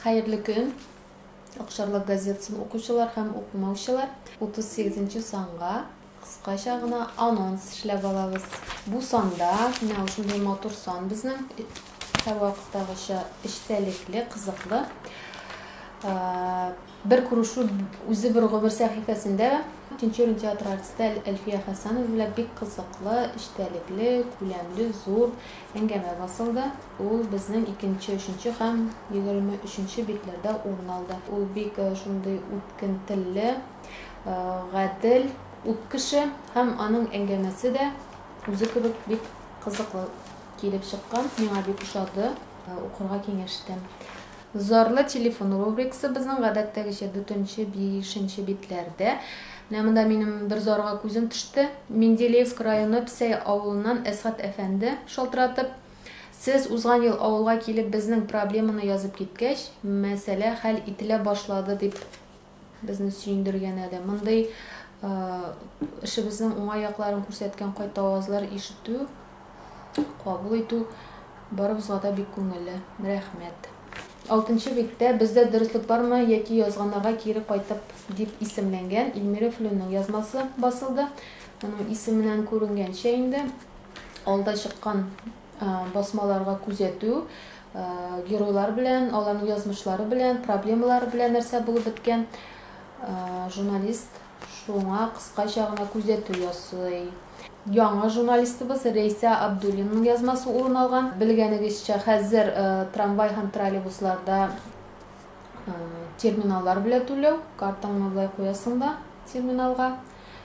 Хәерле көн! Акчарлак газетасын укучылар һәм укымаучылар, 38 нче санга кыскача гына анонс эшләп алабыз. Бу санда, менә ул шундый матур сан безнең, һәрвакыттагыча эчтәлекле, кызыклы. Бер күрешү үзе бер гомер сәхифәсендә. Тинчурин театры артисты Әлфия Хәсәнова белән бик кызыклы, эчтәлекле, күләмле, зур әңгәмә басылды. Ул безнең икенче, өченче һәм егерме өченче битләрдә урын алды. Ул бик шундый үткен телле, гадел, ук кеше һәм аның әңгәмәсе дә үзе кебек бик кызыклы килеп чыккан. Миңа бик ошады, укырга киңәш итәм. Зарлы телефон рубрикасы безнең гадәттәгечә дүртенче, бишенче битләрдә. Менә монда минем бер зарга күзем төште. Менделеевск районы Псәй авылыннан Әсгать әфәнде шалтыратып, Сез узган ел авылга килеп безнең проблеманы язып киткәч, мәсьәлә хәл ителә башлады, дип Безне сөендергәне дә, мондый эшебезнең уңай якларын күрсәткән кайта авазлар ишетү, кабул итү барыбызга да бик күңелле. Рәхмәт. Алтынчы биттә Бездә дөреслек бармы яки язганнарга кире кайтып дип исемләнгән Ильмира Флюнның язмасы басылды. Моның исеменнән күренгәнчә инде, алда чыккан басмаларга күзәтү, геройлар белән, аларның язмышлары белән, проблемалары белән нәрсә булып беткән, журналист шуңа кыскача гына күзәтү ясый. Яңа журналистыбыз Рәйсә Абдуллинаның язмасы урын алган. Белгәнегезчә, хәзер трамвай һәм троллейбусларда терминаллар белән түләү, картаңны болай куясың да терминалга,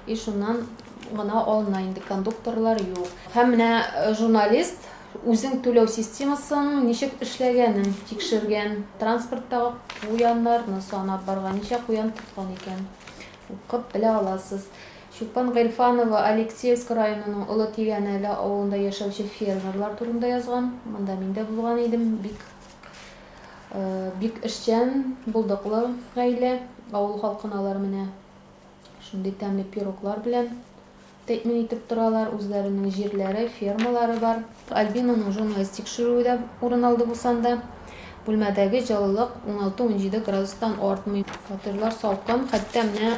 И шуннан гына алына инде, кондукторлар юк. Һәм менә э, журналист үзең түләү системасын ничек эшләгәнен тикшергән, транспорттагы куяннарны санап барган, ничә куян тоткан икән, укып белә аласыз. Чулпан Гыйльфанова Алексеевск районының Олы Тигәнәле авылында яшәүче фермерлар турында язган. Монда мин дә булган идем. Бик э, бик эшчән, булдыклы гаилә, авыл халкын алар менә Шундый тәмле пироглар белән тәэмин итеп торалар, үзләренең җирләре, фермалары бар. Альбинаның журналист тикшерүе дә урын алды бу санда. Бүлмәдәге җылылык 16-17 градустан артмый. Фатирлар салкын, хәтта менә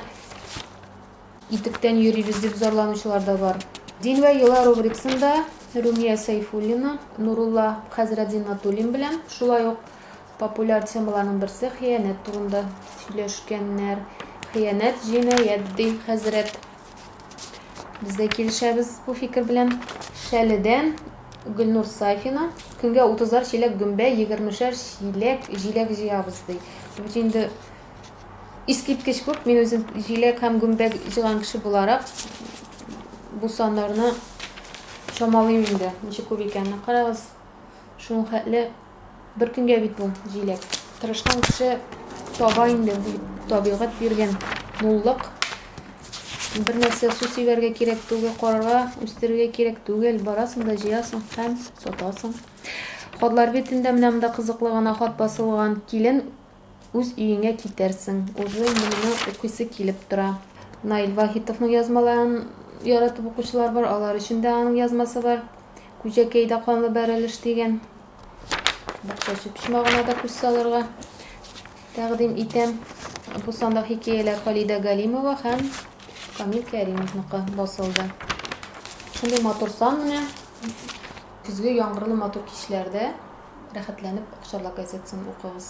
итектән йөрибез дип зарланучылар да бар. Дин вә йола рубрикасында Румия Сәйфуллина, Нурулла хәзрәт Зиннатуллин белән, шулай ук Популяр темаларның берсе хыянәт турында сөйләшкәннәр. Хыянәт җинаять ди хәзрәт. Без дә килешәбез бу фикер белән. Шәледән Гөлнур Сафина көнгә 30-ар чиләк гөмбә, 20-шәр чиләк җиләк җыябыз ди. Бу инде искиткеч күп. Мин үзем җиләк һәм гөмбә җыган кеше буларак бу саннарны чамалыйм инде. Ничек күп икәнен карагыз. Шуның хәтле Бер көнгә бит бу, җиләк. Тырышкан кеше таба инде, табигать биргән муллык. Бер нәрсә су сибәргә кирәк түгел, карарга, үстерергә кирәк түгел. Барасың да җыясың һәм сатасың. Хатлар битендә менә монда кызыклы гына хат басылган. Килен Үз өеңә китәрсең. Уже инде моны укыйсы килеп тора. Наил Вахитовның язмаларын яратып укучылар бар, алар өчен дә аның язмасы бар. Күҗәкәйдә канлы бәрелеш дигән бакчачы почмагына да күз салырга тәкъдим итәм. Бу санда хикәяләр Халидә Галимова һәм Камил Кәримовныкы басылды. Шундый матур сан менә. Көзге яңгырлы матур кичләрдә рәхәтләнеп Акчарлак газетасын укыгыз.